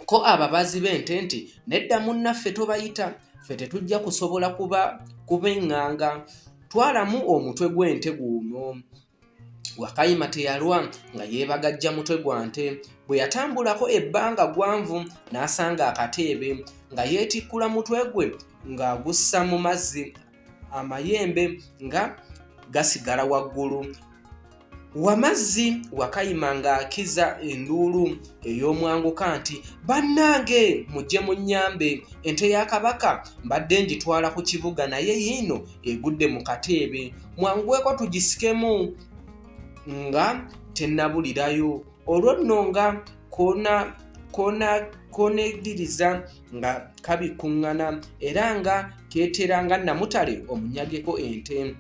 ko ababazi b'ente nti nedda munnaffe tobayita ffe tetujja kusobola kuba kubeŋŋanga twalamu omutwe gw'ente guuno wakayima teyalwa nga yeebagajja mutwe gwa nte bwe yatambulako ebbanga gwanvu n'asanga akateebe nga yeetikkula mutwe gwe ng'agussa mu mazzi amayembe nga gasigala waggulu wamazzi wakayima ng'akiza enduulu ey'omwanguka nti bannange mujje mu nnyambe ente ya kabaka mbadde ngitwala ku kibuga naye yiino egudde mu kateebe mwangweko tugisikemu nga tennabulirayo olwo nno nga koona koona koona ediriza nga kabikuŋŋana era nga keetera nga namutale omunyageko ente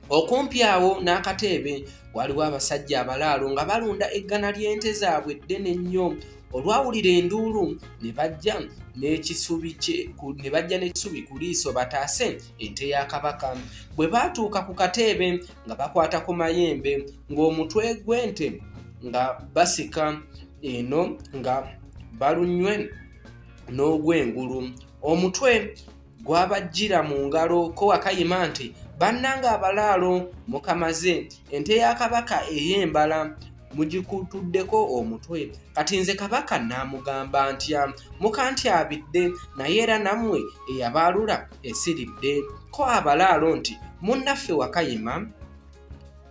okumpi awo n'akateebe waliwo abasajja abalaalo nga balunda eggana ly'ente zaabwe ddene nnyo olwawulira enduulu ne bajja n'ekisubi ku liiso bataase ente ya kabaka bwe baatuuka ku kateebe nga bakwata ku mayembe ng'omutwe gw'ente nga basika eno nga balunywe n'ogw'engulu omutwe gwabajjira mu ngalo ko wakayima nti bannanga abalaalo mukamaze ente ya kabaka ey'embala mugikutuddeko omutwe kati nze kabaka naamugamba ntya mukantyabidde naye era nammwe eyabaalula esiridde ko abalaalo nti munnaffe wakayima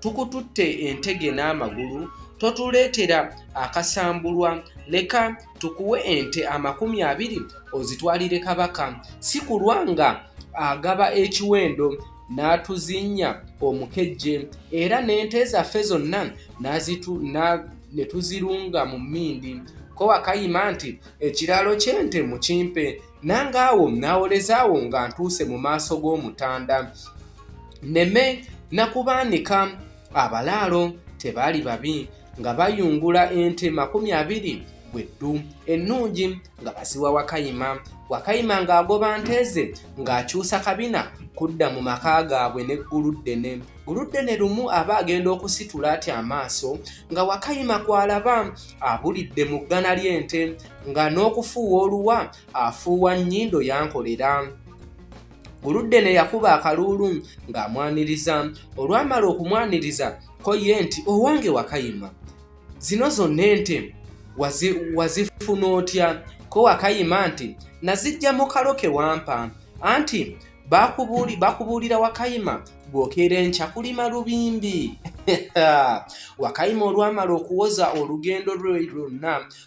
tukututte entege n'amagulu totuleetera akasambulwa leka tukuwe ente amakumi abiri ozitwalire kabaka si kulwa nga agaba ekiwendo n'atuzinnya omukejje era n'ente zaffe zonna ne tuzirunga mu mmindi ko wakayima nti ekiraalo ky'ente mukimpe nange awo nawolezaawo nga ntuuse mu maaso g'omutanda nneme nakubaanika abalaalo tebaali babi nga bayungula ente makumi abiri bweddu ennungi nga baziwa wakayima wakayima ng'agoba nte ze ng'akyusa kabina kudda mu maka gaabwe ne gguluddene gguluddene lumu aba agenda okusitula atya amaaso nga wakayima kw'alaba abulidde mu ggana ly'ente nga n'okufuuwa oluwa afuuwa nnyindo yankolera oludde ne yakuba akaluulu ng'amwaniriza olwamala okumwaniriza ko ye nti owange wakayima zino zonna ente wazifuna otya ko wakayima nti nazijja mu kalo ke wampa anti bakubuulira wakayima bw'okeera enkya kulima lubimbi wakayima olwamala okuwoza olugendo lwe lwonna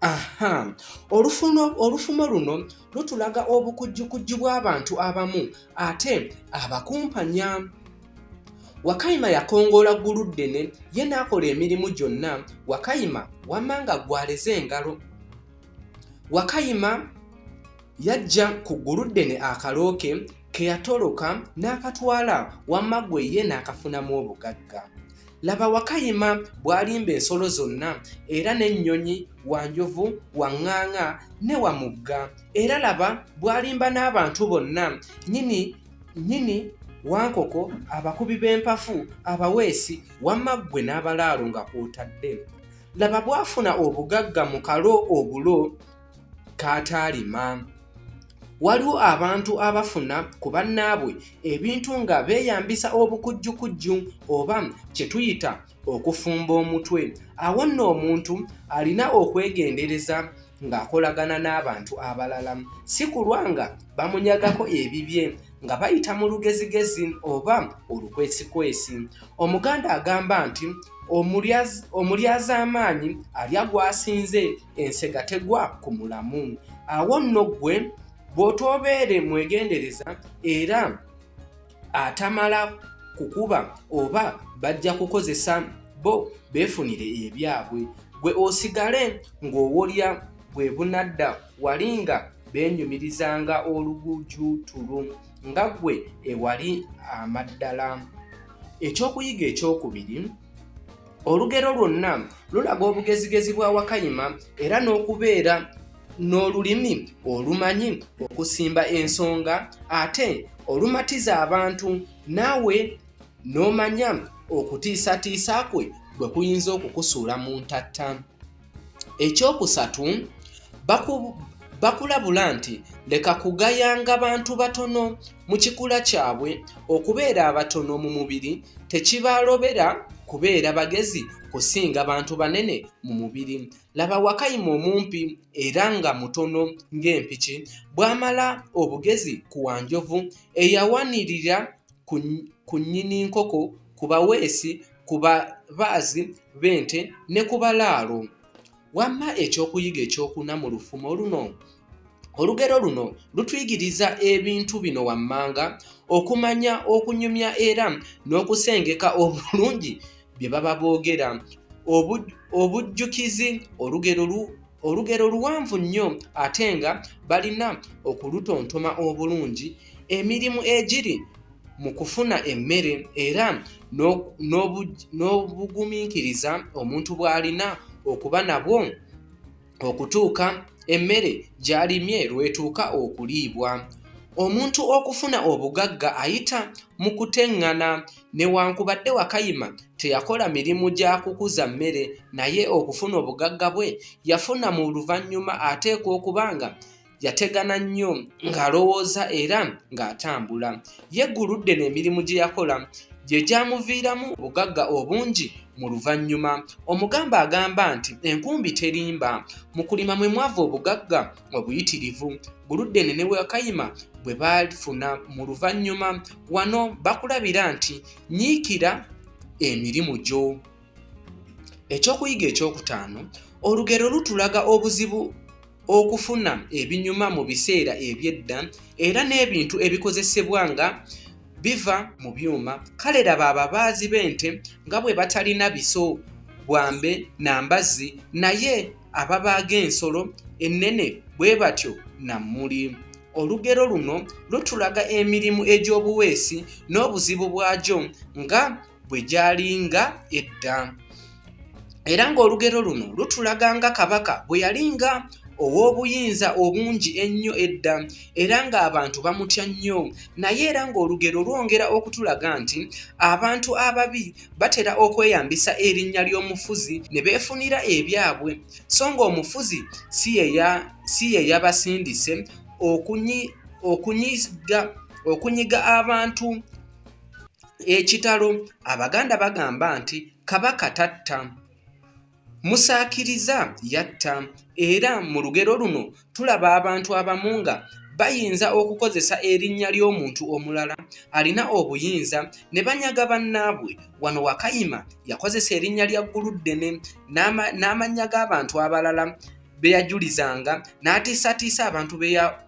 aha olufumo olufumo luno lutulaga obukujjukujju bw'abantu abamu ate abakumpanya wakayima yakongoola ggulu ddene ye n'akola emirimu gyonna wakayima wamma nga gwaleze engalo wakayima yajja ku ggulu ddene akalooke ke yatoloka n'akatwala wamma gwe ye n'akafunamu obugagga laba wakayima bw'alimba ensolo zonna era n'ennyonyi wa njovu wa ŋŋaaŋa ne wa mugga era laba bw'alimba n'abantu bonna nyini nyini wankoko abakubi b'empafu abaweesi wamma ggwe n'abalaalo nga kw'otadde laba bw'afuna obugagga mu kalo obulo k'ataalima. Waliwo abantu abafuna ku bannaabwe ebintu nga beeyambisa obukujjukujju oba kye tuyita okufumba omutwe. Awo nno omuntu alina okwegendereza ng'akolagana n'abantu abalala, si kulwa nga bamunyagako ebibye nga bayita mu lugezigezi oba olukwesikwesi. Omuganda agamba nti, Omulyazaamaanyi alya gw'asinze. ensega tegwa ku mulamu awo nno ggwe bw'otoobeere mwegendereza era atamala kukuba oba bajja kukozesa bo beefunire ebyabwe gwe osigale ng'owolya bwe bunadda wali nga beenyumirizanga olugujuutulu nga ggwe ewali amaddala ekyokuyiga ekyokubiri Olugero lwonna lulaga obugezigezi bwa Wakayima era n'okubeera n'olulimi olumanyi okusimba ensonga ate olumatiza abantu naawe n'omanya okutiisatiisa kwe bwe kuyinza okukusuula mu ntatta. ekyokusatu bakulabula nti leka kugayanga bantu batono mu kikula kyabwe okubeera abatono mu mubiri tekibalobera kubeera bagezi kusinga bantu banene mu mubiri laba wakayima omumpi era nga mutono ng'empiki bw'amala obugezi ku wanjovu eyawanirira ku nnyini nkoko ku baweesi ku babaazi b'ente ne ku balaalo. Wamma ekyokuyiga ekyokuna mu lufumo luno. Olugero luno lutuyigiriza ebintu bino wammanga, okumanya okunyumya era n'okusengeka obulungi bye baba boogera. Obujjukizi olugero lu olugero luwanvu nnyo ate nga balina okulutontoma obulungi. Emirimu egiri mu kufuna emmere era n'obugumiikiriza omuntu bw'alina okuba nabwo okutuuka emmere gy'alimye lw'etuuka okuliibwa. Omuntu okufuna obugagga ayita mu kuteŋŋana newankubadde Wakayima teyakola mirimu gya kukuza mmere naye okufuna obugagga bwe yafuna mu luvannyuma ateekwa okuba nga yategana nnyo ng'alowooza era ng'atambula yegguludde n'emirimu gye yakola gye gyamuviiramu obugagga obungi mu luvannyuma omugamba agamba nti enkumbi terimba mu kulima mwe mwava obugagga obuyitirivu guludde ne ne wakayima bwe bafuna mu luvannyuma wano bakulabira nti nyiikira emirimu gyo ekyokuyiga ekyokutaano olugero lutulaga obuzibu okufuna ebinyuma mu biseera eby'edda era n'ebintu ebikozesebwa nga biva mu byuma kale laba ababaazi b'ente nga bwe batalina biso bwambe na mbazzi naye ababaaga ensolo ennene bwe batyo na mmuli olugero luno lutulaga emirimu egy'obuweesi n'obuzibu bwagyo nga bwe gyali nga edda era ng'olugero luno lutulaga nga kabaka bwe yali nga ow'obuyinza obungi ennyo edda era ng'abantu bamutya nnyo naye era ng'olugero lwongera okutulaga nti abantu ababi batera okweyambisa erinnya ly'omufuzi ne beefunira ebyabwe so ng'omufuzi si ye yabasindise okunyiga abantu Ekitalo Abaganda bagamba nti Kabaka tatta, Musaakiriza yatta era mu lugero luno tulaba abantu abamu nga bayinza okukozesa erinnya ly'omuntu omulala alina obuyinza ne banyaga bannaabwe. Wano Wakayima yakozesa erinnya lya Gguluddene n'amannya g'abantu abalala be yajulizanga n'atiisatiisa abantu be ya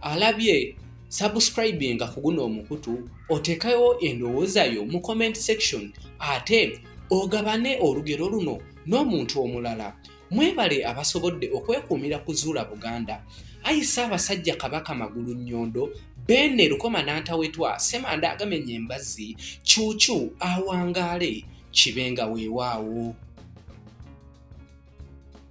alabye subscribinga ku guno omukutu otekayo endowooza yo mu comment section ate ogabane olugero luno n'omuntu omulala mwebale abasobodde okwekuumira ku zuula buganda ayi ssaabasajja kabaka magulu nnyondo beene lukoma nantawetwa semanda agamenya embazzi kyukyu awangaale kibenga weewaawo